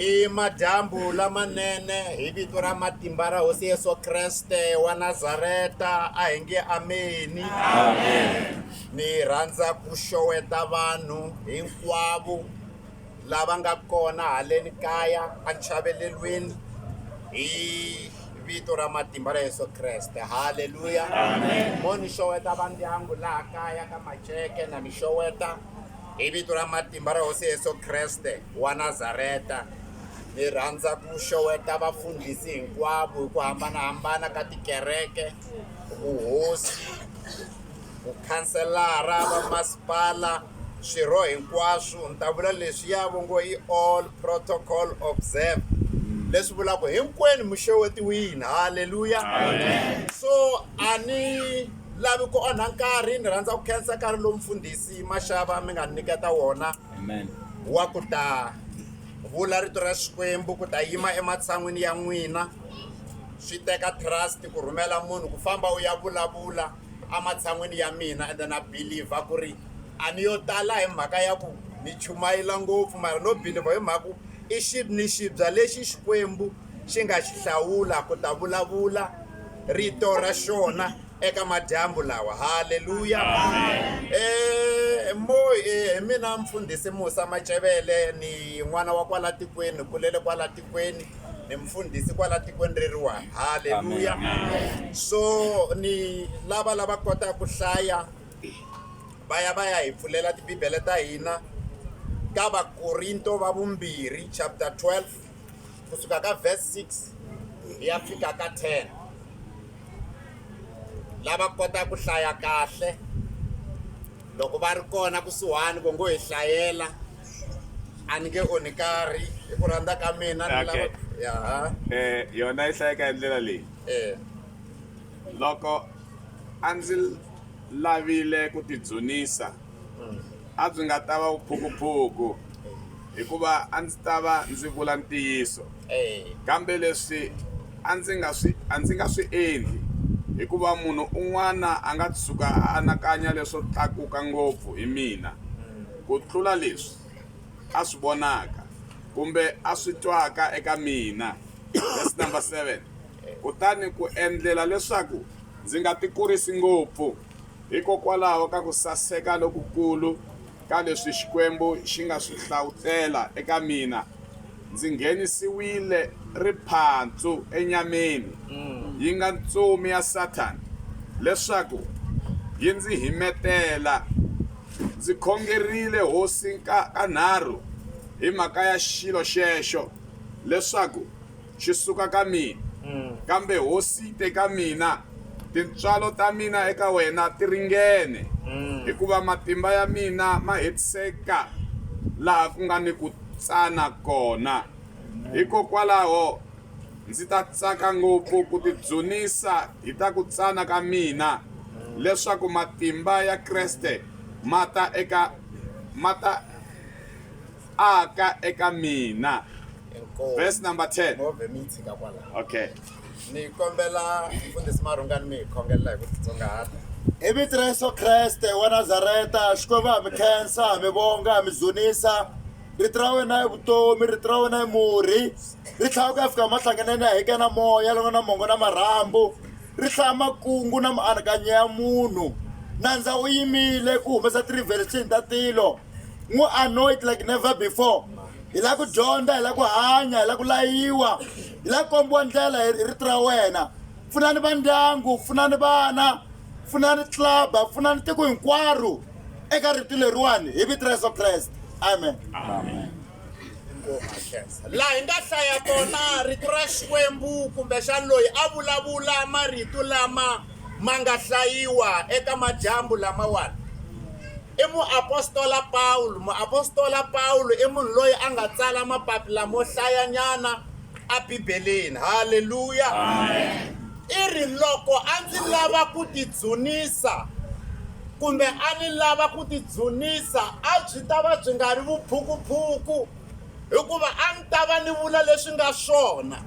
I madyambu lamanene hi vito ra matimba ra Hosi Yesu Kreste wa Nazareta a hi nge ameni. Amen. Ni rhandza ku xoweta vanhu hinkwavo lava nga kona haleni kaya entshavelelweni hi vito ra matimba ra Yesu Kreste. Haleluya. Amen. Mo ni xoweta vandyangu laha kaya ka Maceke na mi xoweta Hi vito ra matimba ra Hosi Yesu Kreste wa Nazareta, ni rhandza ku xeweta vafundhisi hinkwavo hi ku hambanahambana ka tikereke, vuhosi, vukhanselara, vamasipala, swirho hinkwaswo. Ni ta vula leswiya va ngo i all protocol observed, leswi vulaka ku hinkwenu mi xewetiwile. Haleluya! So a ni. lavi ku onha nkarhi ni rhandza ku khensa nkarhi lowu mfundhisi maxava mi nga ni nyiketa wona wa ku ta vula rito ra xikwembu ku ta yima ematshan'wini ya n'wina swi teka trust ku rhumela munhu ku famba u ya vulavula ematshan'wini ya mina ende na believer ku ri a ni yo tala hi mhaka ya ku ni chumayela ngopfu mara no believer hi mhaka ku i xi ni xibya lexi xikwembu xi nga xi hlawula ku ta vulavula rito ra xona eka madyambu lawa haleluya um mo hi mina mfundhisi musa macevele ni n'wana wa kwala tikweni ni kulele kwala tikweni ni mfundhisi kwala tikweni reriwani haleluya so ni lava lava kotaka ku hlaya va ya va ya hi pfulela tibibele ta hina ka vakorinto va vumbirhi chapter 12 kusuka ka verse 6 hi ya fika ka 10 lava kota ku hlaya kahle loko va ri kona kusuhani ku ngo hi hlayela a ni nge onhi karhi hi ku rhandza ka mina ni lava Okay. yaha Eh, yona yi hlayeka hi ndlela leyi eh loko a ndzi lavile ku tidzunisa, a byi nga ta va vuphukuphuku, hikuva a ndzi ta va ndzi vula ntiyiso. Kambe leswi a ndzi nga swi a ndzi nga swi endli, hikuva munhu un'wana a nga tshuka a anakanya leswo tlakuka ngopfu hi mina ku tlula leswi a swi vonaka kumbe a swi twaka eka mina, verse number 7. Kutani ku endlela leswaku ndzi nga tikurisi ngopfu hikokwalaho ka ku saseka lokukulu ka leswi Xikwembu xi nga swi hlavutela eka mina, ndzi nghenisiwile riphandzu enyameni, yi nga ntsumi ya Sathana, leswaku yi ndzi himetela. Ndzi khongerile Hosi ka kanharhu hi mhaka ya xilo xexo, leswaku xi suka ka mina, kambe hosi yi te ka mina, Tintswalo ta mina eka wena ti ringene, hikuva matimba ya mina ma hetiseka laha ku nga ni ku tsana kona. Hikokwalaho ndzi ta tsaka ngopfu ku tidzunisa hi ta ku tsana ka mina, leswaku matimba ya Kreste ma ta eka ma ta aka eka mina Inkomu. verse number 10 Move mi yi tshika kwalaho okay ni kombela mfundhisi marhungani mi hi khongelela hi ku titsongahata hi vito ra yesu kreste wa nazareta xikwembu ha mi khensa ha mi vonga ha mi dzunisa rito ra wena i vutomi rito ra wena i murhi ri tlhaya ku ya fika mahlanganeni ya heke na moya loko na mongo na marhambu ri hlaya makungu na mianakanyo ya munhu nandza u yimile ku humesa ti-revelation ta tilo N'wi anoint like never before. Hi la ku dyondza, hi la ku hanya, hi la ku layiwa, hi la ku kombiwa ndlela hi rito ra wena. Pfunani va ndyangu, pfunani vana, pfunani club, pfunani tiko hinkwaro eka rito leriwani hi vito ra Yeso Kreste. Amen. Amen. laha hi nga hlaya kona rito ra xikwembu kumbexani loyi a vulavula marito lama ma nga hlayiwa eka madyambu lamawani i muapostola pawulo muapostola pawulo i munhu loyi a nga tsala mapapila mo hlayanyana eBibeleni. Haleluya! I ri, Loko a ndzi lava ku tidzunisa kumbe a ni lava ku tidzunisa a byi ta va byi nga ri vuphukuphuku hikuva a ni ta va ni vula leswi nga swona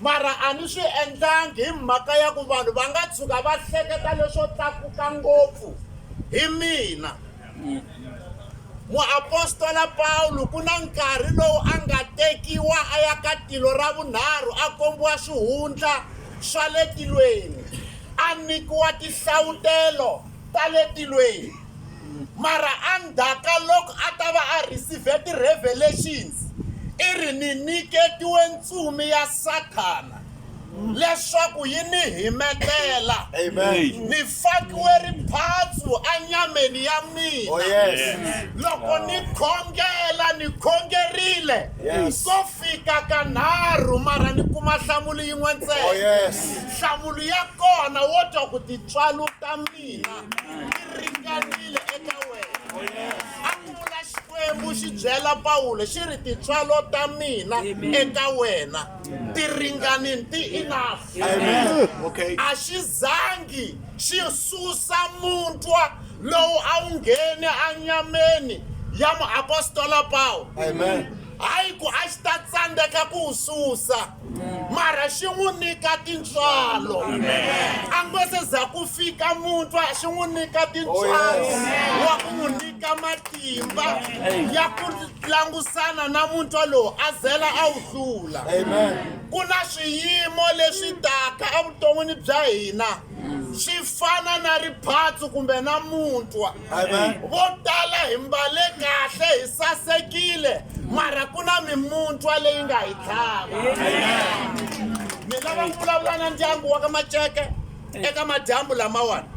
mara a ni swi endlangi hi mhaka ya ku vanhu va nga tshuka va hleketa leswo tlakuka ngopfu hi mina Muapostola Pawulo ku na nkarhi lowu a nga tekiwa a ya ka tilo ra vunharhu a kombiwa swihundla swa le tilweni, a nyikiwa tinhlavutelo ta le tilweni. Mara endzhaku loko a ta va a rhisive ti-revelations, i ri, Ni nyiketiwe ntsumi ya Sathana. leswaku yi ni himetela ni fakiwe riphatsu anyameni ya mina oh, yes. loko ni khongela ni khongerile yes. ko fika ka nharhu mara ni kuma nhlamulo yin'we ntsena oh, yes. nhlamulo ya kona wo twa ku titswalo ta mina ti ringanile eka wena oh, yes. xikwembu xi byela pawulo xi ri titswalo ta mina eka wena ti ringanini ti enough okay a xi zangi xi susa muntwa lowu a wu nghene anyameni ya muapostola pawulo hayi ku a xi ta tsandzeka ku wu susa mara xi n'wi nyika tintswalo a ngo se za ku fika muntwa xi n'wi nyika tintswalo wa ku n'wi nyika matimba ya ku langusana na muntwa lowu a zela a wu hlula ku na swiyimo leswi taka evuton'wini bya hina swi fana na riphatsu kumbe na muntwa vo tala hi mbale kahle hi sasekile mara ku na mimuntwa leyi nga hi tlhava ni lava ku vulavula na ndyangu wa ka maceke eka madyambu lamawani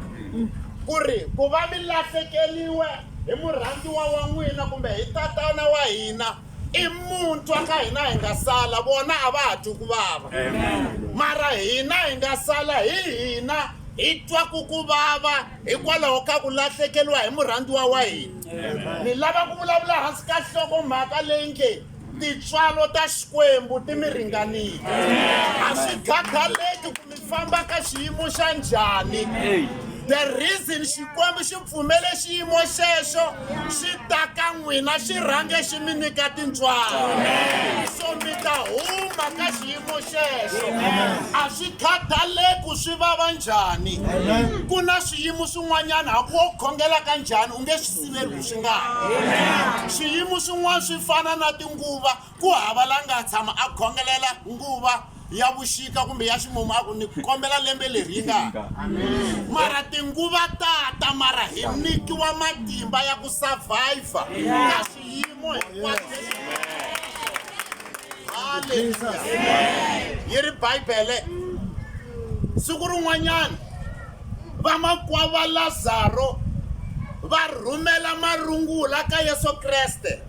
ku ri ku va mi lahlekeliwe hi murhandziwa wa n'wina kumbe hi tatana wa hina i muntshwa ka hina hi nga sala vona a va ha twi ku vava mara hina hi nga sala hi hina hi twa ku ku vava hikwalaho ka ku lahlekeriwa hi murhandziwa wa hina ni lava ku vulavula hansi ka nhlokomhaka leyi nge Tintswalo ta Xikwembu ti mi ringanile. A swi khathaleki ku mi famba ka xiyimo xa njhani. The reason Xikwembu xi pfumele xiyimo xexo xi ta ka n'wina xi rhange xi mi nyika tintswalo. So mi ta huma ka xiyimo xexo. A swi khathaleki ku swi vava njhani. Ku na swiyimo swin'wanyana hambi wo khongela ka njhani u nge swi siveriwi swi nga ha swiyimo swin'wana swi fana na tinguva ku hava la nga tshama a khongelela nguva ya vuxika kumbe ya ximumu a ku ni kombela lembe leri yi nga mara tinguva tata mara hi nyikiwa matimba ya ku survivor ka swiyimo hinkwaswo yi ri bibele siku rin'wanyana vamakwavo va lazaro va rhumela marungula ka yesu kreste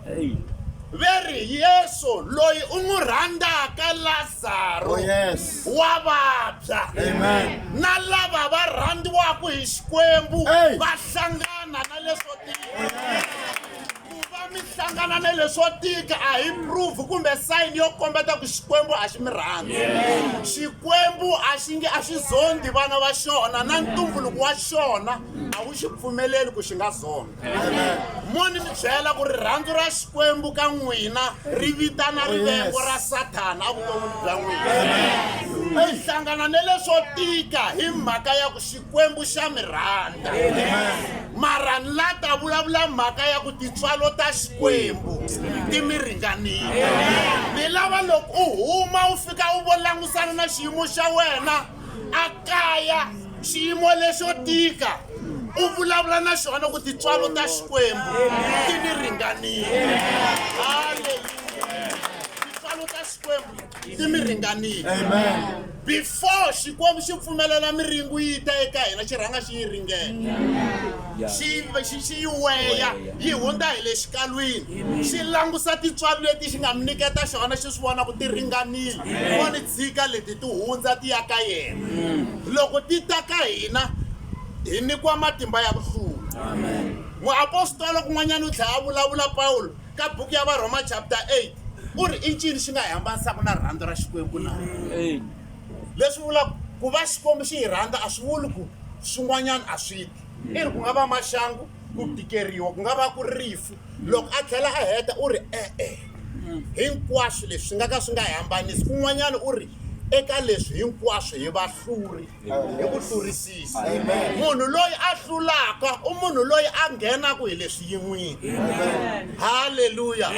ve ri yesu loyi u n'wi rhandzaka lazaro oh, yes. wa vabya na lava va rhandziwaka hi xikwembu va hlangana na leswo tika ku va mi hlangana na leswo tika a hi proof kumbe sayini yo kombeta ku xikwembu a xi mi rhandzi xikwembu a xi nge a xi zondi vana va xona na ntumbuluko wa xona a wu xi pfumeleli ku xi nga zonda mo ni mi byela ku rirhandzu ra xikwembu ka n'wina ri vitana rivengo ra sathana evuton'wini bya n'wina mi hlangana na leswo tika hi mhaka ya ku xikwembu xa mi rhandza mara ni la ta vulavula mhaka ya ku tintswalo ta xikwembu ti mi ringanile ni lava loko u huma u fika u vo langusana na xiyimo xa wena a kaya xiyimo lexo tika u vulavula na xona ku tintswalo ta xikwembu ti ni ringanile haleluya tintswalo ta xikwembu ti mi ringanile before xikwembu xi pfumelela miringu yi ta eka hina xi rhanga xi yi ringena xi xi yi weya yi hundza hi le xikalwini xi langusa tintswalo leti xi nga mi nyiketa xona xi swi vona ku ti ringanile wa ni tshika leti ti hundza ti ya ka yena mm. loko ti ta ka hina hi nyikiwa matimba ya ku hlula muapostolo kun'wanyana u tlhela a vulavula pawulo Ka buku ya Varhoma chapter 8, u ri, I ncini xi nga hi hambanisaku na rirhandzu ra Xikwembu na? Leswi vulaku, Ku va Xikwembu xi hi rhandza a swi vuli ku swin'wanyana a swi ti. I ri, Ku nga va maxangu, ku tikeriwa, ku nga va ku ri rifu. Loko a tlhela a heta u ri, E-e. Hinkwaswo leswi swi nga ka swi nga hi hambanisi. Kun'wanyana u ri, Eka leswi hinkwaswo hi vahluri. hi ku hlurisisa munhu loyi a hlulaka u munhu loyi a nghenaka hi le swiyin'wini halleluya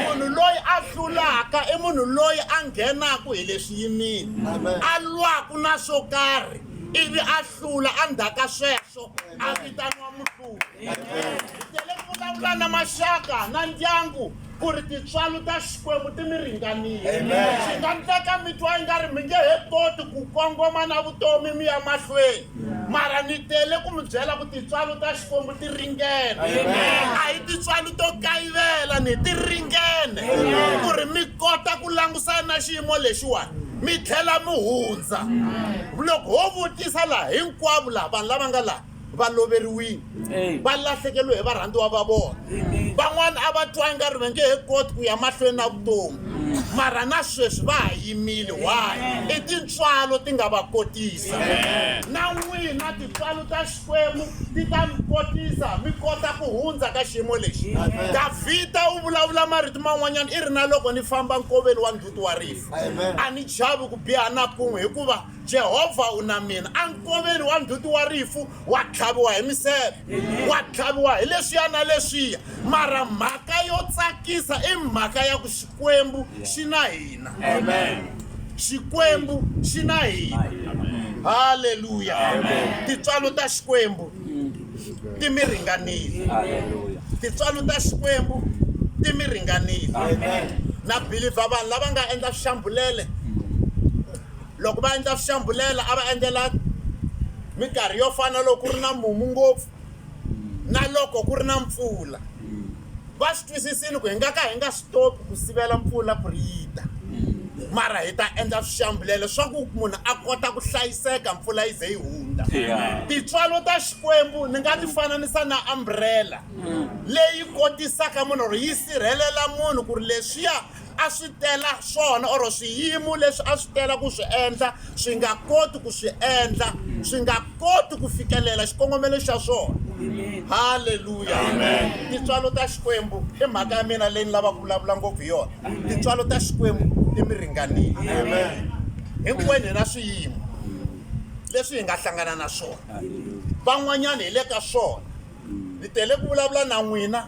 munhu loyi a hlulaka i munhu loyi a nghenaka hi le swiyimini a lwaku na swo karhi ivi a hlula a ndzhaka sweswo a vitaniwa muhluli hi tele ku vulavula na maxaka na ndyangu Ku ri tintswalo ta Xikwembu ti mi ringanile. Swi nga ndleka mi twa ingari mi nge he koti ku kongoma na vutomi mi ya mahlweni. Mara ni tele ku mi byela ku tintswalo ta Xikwembu ti ringene. A hi tintswalo to kayivela ni ti ringene ku ri mi kota ku langusana na xiyimo lexiwani mi tlhela mi hundza. Loko ho vutisa laha, hinkwavo laha vanhu lava nga laha va loveriwile va lahlekeriwe hi varhandziwa va vona van'wana a va twanga ri va nge he koti ku ya mahlweni na vutomi mara na sweswi va ha yimile why i tintswalo ti nga va kotisa na n'wina tintswalo ta xikwembu ti ta mi kotisa mi kota ku hundza ka xiyimo lexi davhida u vulavula marito man'wanyana i ri na loko ni famba nkoveni wa ndzhuti wa rifu a ni chavi ku biha na kun'we hikuva Jehovha u na mina. Enkoveni wa ndzhuti wa rifu wa tlhaviwa hi miseve, wa tlhaviwa hi leswiya na leswiya, mara mhaka yo tsakisa i mhaka ya ku Xikwembu xi na hina. Xikwembu xi na hina. Haleluya! Tintswalo ta Xikwembu ti mi ringanile. Tintswalo ta Xikwembu ti mi ringanile. Na believer vanhu lava nga endla swixambulele Loko va endla swihlambhulela a va endlela minkarhi yo fana na loko ku ri na mumu ngopfu na loko ku ri na mpfula va swi twisisini ku hi nga ka hi nga swi topi ku sivela mpfula ku ri yi ta mara hi ta endla swihlambhulela swa ku munhu a kota ku hlayiseka mpfula yi ze yi hundza tintswalo ta xikwembu ni nga ti fananisa na umbrella leyi kotisaka munhu or yi sirhelela munhu ku ri leswiya a swi tela swona or swiyimo leswi a swi tela ku swi endla swi nga koti ku swi endla swi nga koti ku fikelela xikongomelo xa swona halleluya tintswalo ta xikwembu i mhaka ya mina leyi ni lavaka ku vulavula ngopfu hi yona tintswalo ta xikwembu ti mi ringanile hinkwenu hi na swiyimo leswi hi nga hlangana na swona van'wanyana hi le ka swona ni tele ku vulavula na n'wina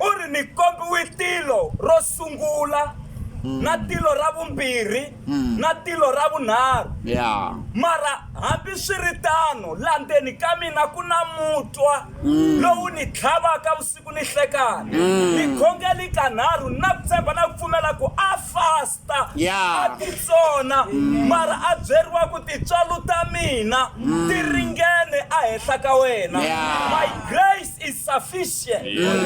u ri ni kombiwe tilo ro sungula mm. na tilo ra vumbirhi mm. na tilo ra vunharhu yeah. mara hambi swi ri tano la ndzeni ka mina ku na mutwa mm. lowu ni tlhavaka vusiku ni hlekana mm. ni khongeli kanharhu na ku tshemba na ku pfumela ku a fast Yeah. a ti tsona mara a byeriwa ku tintswalo ta mina ti ringene ehenhla ka wena Yeah. my grace is sufficient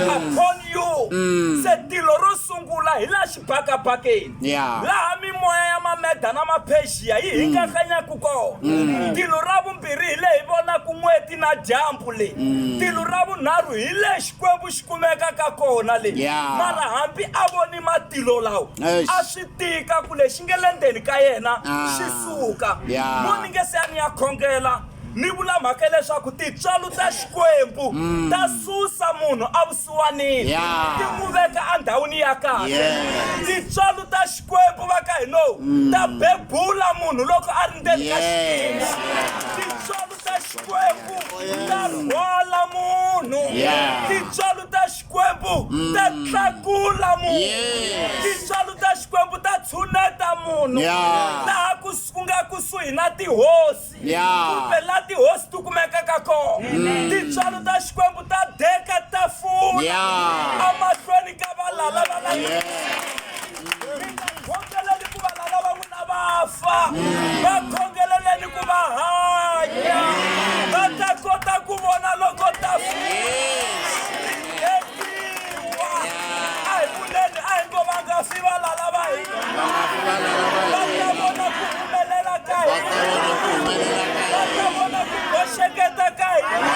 upon you se tilo ro sungula hi laha xibakabakeni Yeah. laha mimoya ya mameda na maphexiya yi hingakanyaku kona tilo ra vumbirhi hi le hi vonaku n'weti na dyambu le tilo ra vunharhu hi le xikwembu xi kumeka ka kona le Yeah. mara hambi a voni matilo lawa Eish. a swi tika ku lexi nge le ndzeni ka yena Ah. xi suka Yeah. mo ni nge se a ni ya khongela ni vula mhaka leswaku tintswalo ta xikwembu ta susa munhu avusiwanini Mm. Yeah. ti n'wi veka endhawini ya kahle Yes. Mm. tintswalo ta xikwembu va ka hinowu ta bebula munhu loko a ri ndzeni ka Yes. xitima tintswalo ta xikwembu ta rhwala munhu tintswalo ta xikwembu ta mm. tlakula munhu tintswalo ta xikwembu ta tshuneta munhu laha ku nga kusuhi na tihosi kumbe la tihosi ti kumekaka kona tintswalo ta xikwembu ta deka tafula emahlweni ka valala va la mi nga khongeleli ku va lava va n'wina va fa va khongeleleni ku va hanya va ta kota ku vona loko ta fitiwa a hi vuleni a hi ngo va nga fi va lala va hina va ta vona ku humelela ka hina va ta vona ku boxeketa ka hina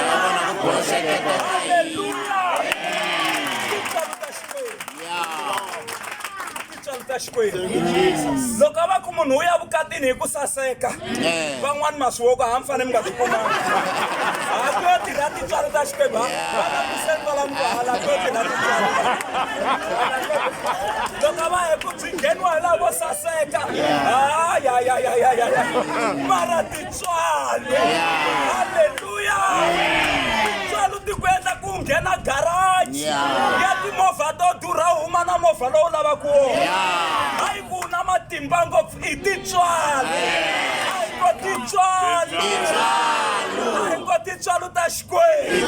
loko a va ku munhu wu ya vukatini hi ku saseka eh. van'wani maswiwoko ha mi fanele mi nga swi kumanga ha ku yo tirha tintswalo ta xikwembu vana kusentalani vahala ku yo tirha tintswalo loko a va hi ku byi ngheniwa hi laha vo saseka hayayayayaya mara Tswalo. Haleluya. Tswalo ti ku endla ku nghena garage ya timovha to durha u huma na movha lowu lavaka wona. Hayi ku u na matimba ngopfu i tintswalo. Hayi ko tintswalo. Hayi ko tintswalo ta Xikwembu.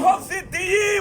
Covid yi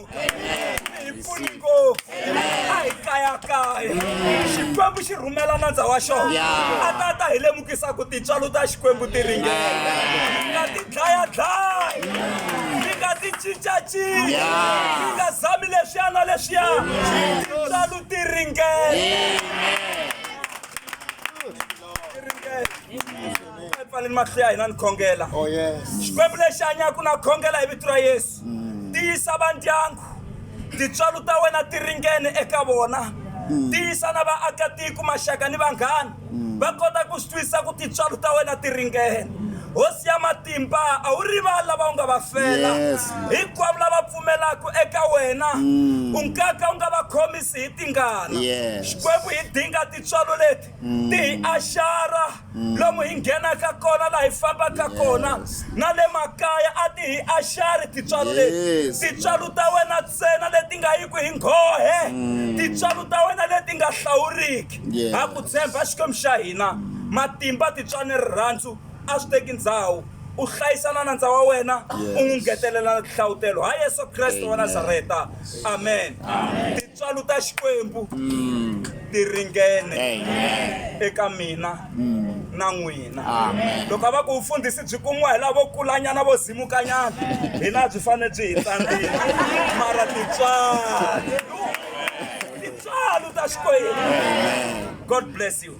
mpfuningo a hi kayakaya xikwembu xi rhumela nandza wa xona a ta ta hi lemukisa ku tintswalo ta xikwembu ti ringela mi nga ti dlayadlaya mi nga ti cincacinca mi nga zami leswiya na leswiya tintswalo ti ringela pfaleni mahlo ya hina ni khongela xikwembu lexi hanyaka na khongela hi vito ra yesu mm. tiyisa vandyangu tintswalo ta wena ti ringene eka vona mm. tiyisa na vaakatiko maxaka ni vanghani mm. va kota ku swi twisisa ku tintswalo ta wena ti ringene hosi ya matimba a wu rivali lava u nga va fela hinkwavo lava pfumelaka eka wena u nkaka u nga va khomisi hi tingana xikwembu hi dinga tintswalo leti ti hi axara lomu hi nghenaka kona laha hi fambaka kona na le makaya a ti hi axari tintswalo leti tintswalo ta wena ntsena leti nga yi ku hi nghohe mm. tintswalo ta wena leti nga hlawuriki ha ku tshemba xikwembu xa hina matimba tintswani rirhandzu a swi teki ndhawu U hlayisa na nandza wa wena, u n'wi ngetelela na tinhlavutelo. Ha Yesu Kreste wa Nazareta. Amen. Tintswalo ta Xikwembu ti ringene eka mina na n'wina. Loko a va ku vufundhisi byi kumiwa hi lavo kulanyana vo zimukanyana, hina byi fanele byi hi tsandzika. Mara tintswalo, tintswalo ta Xikwembu. God bless you.